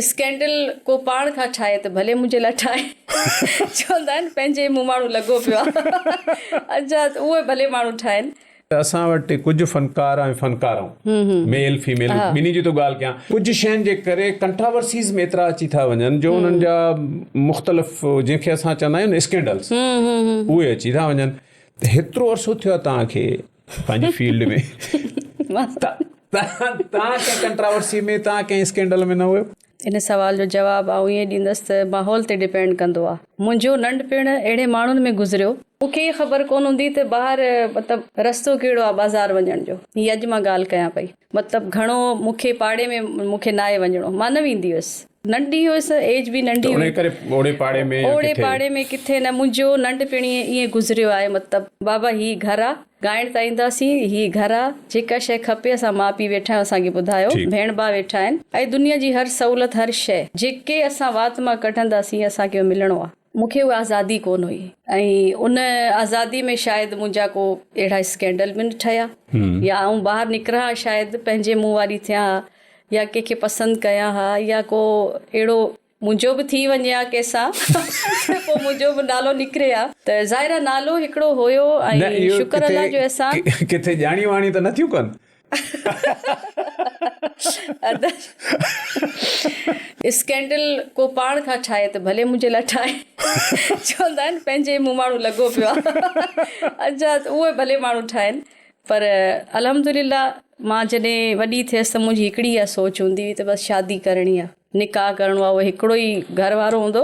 Scandal ڪو پاڻ کان ٺاهي ته ڀلي منهنجي لاء ٺاهي چوندا آهن پنهنجي مون ماڻهو لڳو پيو آهي اچا اهي ڀلي ماڻهو ٺاهين. اسان وٽ ڪجهه فنڪار ۽ فنڪارائون ميل فيميل ٻنهي جي ٿو ڳالهه ڪيان ڪجهه شين جي ڪري ڪنٽراورسيز ۾ ايترا اچي ٿا وڃن جو انهن جا مختلف جنهن کي اسان چوندا آهيون نه اسڪينڊلز اهي اچي ٿا وڃن ته هيترو عرصو ٿيو آهي توهان کي پنهنجي فيلڊ ۾ توهان ڪنهن ڪنٽراورسي ۾ توهان ڪنهن اسڪينڊل ۾ نه هيو؟ ان سوال جو جواب آئون ائين ڏيندس ته ماحول تي ڊپينڊ ڪندو آهي. منهنجو ننڍپڻ اهڙي ماڻهن ۾ گذريو. مون کي ئي خبر ڪونه هوندي ته ٻاهر مطلب رستو ڪهڙو آهي بازار وڃڻ جو. هي اڄ مان ڳالهه ڪيان پئي. مطلب گهڻو مون کي پاڙي ۾ مون کي ناهي وڃڻو. مان نه ويندي هيس. ننڍي هيس، ايج به ننڍي هئي. ته انهيء ڪري اوڙي پاڙي ۾ يا ڪٿي؟ اوڙي پاڙي ۾ ڪٿي نه. منهنجو ننڍپڻ ئي ائين گذريو آهي. مطلب بابا هي گهر آ. ڳائڻ ته اينداسين. هي گهر آ. جيڪا شيء کپي اسان ماء پيء ويٺا آهيون اسان کي ٻڌايو. ٺيڪ. ڀيڻ ڀاء ويٺا آهن. ۽ دنيا جي هر سهولت هر شيء جيڪي اسان وات مان ڪڍنداسين اسان کي اهو ملڻو آ. مون کي اها آزادي ڪونه هئي ۽ ان آزادي ۾ شايد منهنجا ڪو اهڙا اسڪينڊل به نه ٺهيا يا آئون ٻاهر نڪران ها شايد پنهنجي منهن واري ٿيان ها يا ڪنهن کي پسند ڪيان ها يا ڪو اهڙو منهنجو به ٿي وڃي ها ڪنهن سان ته پوء منهنجو به نالو نڪري ها ته ظاهر آهي نالو هڪڙو هيو ۽ شڪر الله جو احسان. ڪٿي ڄاڻيون واڻيون ته نه ٿيون ڪن؟ اسڪينڊل ڪو پاڻ کان ٺاهي ته ڀلي منهنجي لاء ٺاهي چوندا آهن پنهنجي مون ماڻهو لڳو پيو آهي اچا اهي ڀلي ماڻهو ٺاهين پر الحمدلله مان جڏهن وڏي ٿيس ته منهنجي هڪڙي اها سوچ هوندي هئي ته بس شادي ڪرڻي آهي نڪاح ڪرڻو آهي اهو هڪڙو ئي گهر وارو هوندو